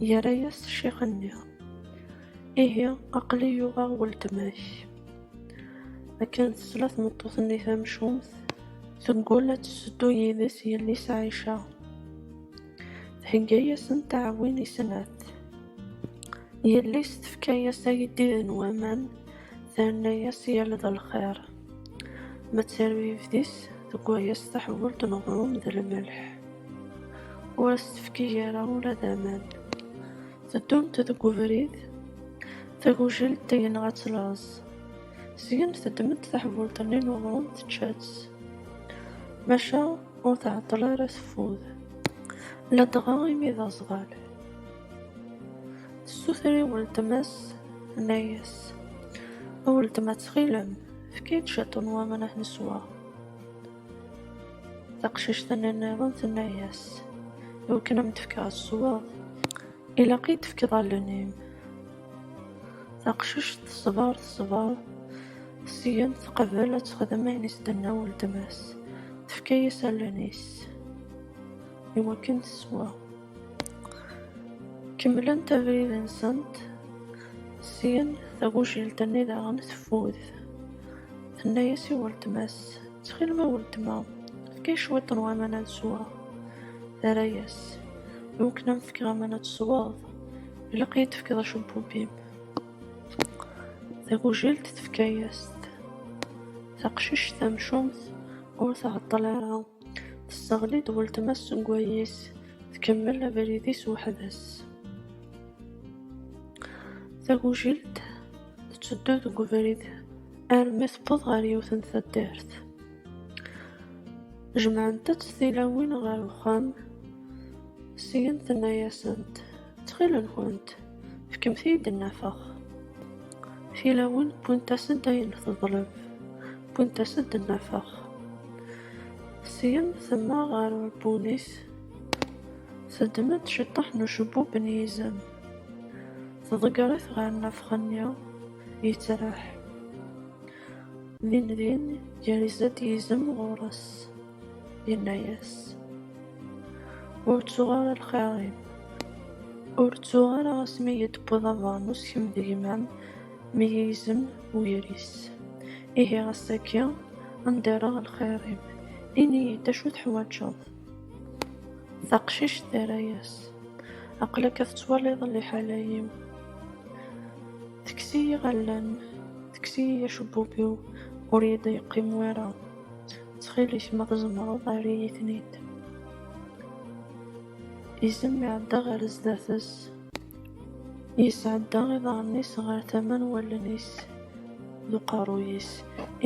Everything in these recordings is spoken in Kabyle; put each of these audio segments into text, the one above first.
Yerra-yas ccix-nni. Ihi, aql-i yuɣeɣ weltma-k. Akken tesla tmeṭṭut-nni tamcumt, teggul ad tesseddu yid-s yelli-s Ɛica. Thegga-yasen taɛwin i snat. Yelli-s tefka-yas agdid n waman, terna-yas yal d lxir. ma tserwi yebdis deg waya s taḥbult n uɣrum d lmelḥ ur as-tefki ara ula d aman teddunt deg ubrid tagujilt yenɣa-tt laẓ syin teddem-d taḥbult-nni n uɣrum tečča-tt maca ur tɛeṭṭel ara teffud ladɣa imi d aẓɣal Sutri weltma-s tenna-yas, A weltma ttxil-m, efk-iyi-d cwiṭ n waman ad neswa. Taqcict-nni nniḍen tenna-yas, Iwakken ad m-d-fkeɣ ad tesweḍ, ilaq i d-tefkeḍ allen-im. Taqcict teṣber teṣber, syen teqbel ad texdem ayen i s-d-tenna weltma-s, tefka-yas allen-is iwakken teswa. Kemmlent abrid-nsent, syin tagujilt-nni daɣen teffud. Tenna-as i weltma-s, Ttxil-m a weltma, efk-iyi cwiṭ n waman ad sweɣ. Terra-as, I wakken ad m-fkeɣ aman ad tesweḍ, ilaq ad iyi-d-tefkeḍ acebbub-im. Tagujilt tefka-as-t. Taqcict tamcumt ur tɛeṭṭel ara. Tesseɣli-d weltma seg wayis, tkemmel abrid-is weḥd-s. Tagujilt tetteddu deg ubrid armi tewweḍ ɣer yiwet n taddart. Jemɛent-tt tilawin ɣer uxxam, syin tenna-asent. Ttxil-nkent, fkemt-iyi-d nnafex. Tilawin wwint-asen-d ayen teḍleb, wwint-asen-d nnafex. Syin temmeɣ ɣer uɛebbun-is, teddem-d ciṭṭaḥ n ucebbub n yizem, tḍegger-it ɣer nnafex-nni, yettraḥ. Dindin yerza-d yizem ɣur-s. Yenna-yas, Ur ttuɣ ara lxir-im, ur ttuɣ ara asmi i yi-d-tewwiḍ abernus kemm d gma-m mi yi-yezem weyris. Ihi ass-agi ad m-d-rreɣ lxir-im, ini-yi-d acu teḥwaǧeḍ? Taqcict terra-yas, Aql-ak ad tettwaliḍ liḥala-iw. Tekkes-iyi allen, tekkes-iyi acebbub-iw, ur yi-d-yeqqim wara. Ttxil-k ma tzemreḍ err-iyi-ten-id. Izem iɛedda ɣer sdat-s. Yesɛedda iḍarren-is ɣer tama n wallen-is d uqerruy-is.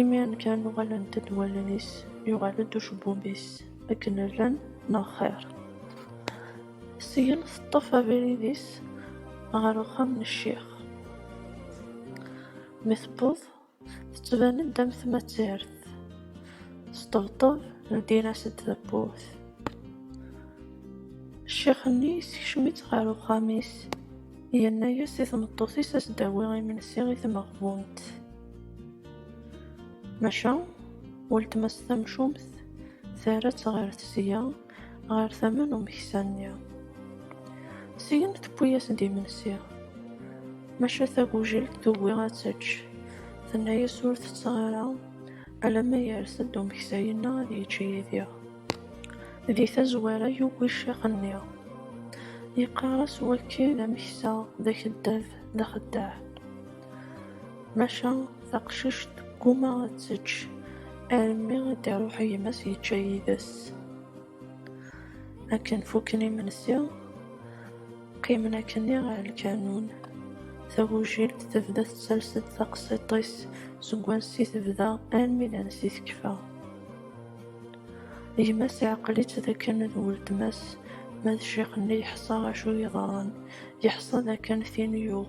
Imiren kan uɣalent-d wallen-is, yuɣal-d ucebbub-is. Akken llan neɣ xir. Syin teṭṭef abrid-is ɣer uxxam n ccix. Mi tewweḍ. Tettban-d am tmazirt. Sṭebṭeb, ldin-as-d tawwurt. Ccix-nni yessekcem-itt ɣer uxxam-is, yenna-as i tmeṭṭut-is ad s-d-tawi imensi i tmeɣbunt. Maca, weltma-s tamcumt terra-tt ɣer tesga. Ɣer tama n umeksa-nni, syin tewwi-as-d imensi, maca tagujelt tugi ad tečč, tenna-as ur tetteɣ ara alamma yers-d umeksa yenna ad yečč yid-i. Di tazwara yugi ccix-nni, yeqqar-as wakki d ameksa, d akeddab, d axeddaɛ. Maca taqcict tegguma ad tečč armi i d-iruḥ gma-s yečča yid-s. Akken fukken imensi, qqimen akkenni ɣer lkanun. Tagujilt tebda tettales-d taqsiṭ-is seg wansi tebda armi d ansi tekfa. Gma-s iɛqel-itt d akken d weltma-s, ma d ccix-nni yeḥṣa acu yeḍran, yeḥṣa d akken tin yuɣ.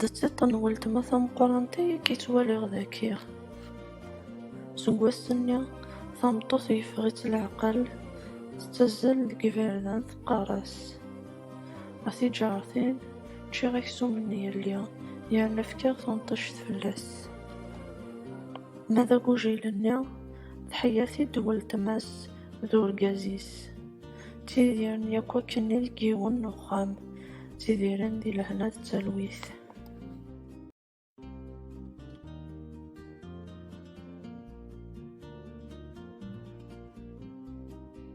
D tiṭ n weltma tameqqrant ay k-yettwaliɣ dagi. Seg wass-nni, tameṭṭut yeffeɣ-itt leɛqel, tettazzal deg yiberdan teqqar-as, A tiǧartin, ččiɣ aksum n yelli, yerna fkiɣ tunṭict fell-as. Ma d agujil-nni, tḥeyya-t-id weltma-s d urgaz-is. Ttidiren yakk akken i deg yiwen n uxxam, ttidiren di lehna d talwit.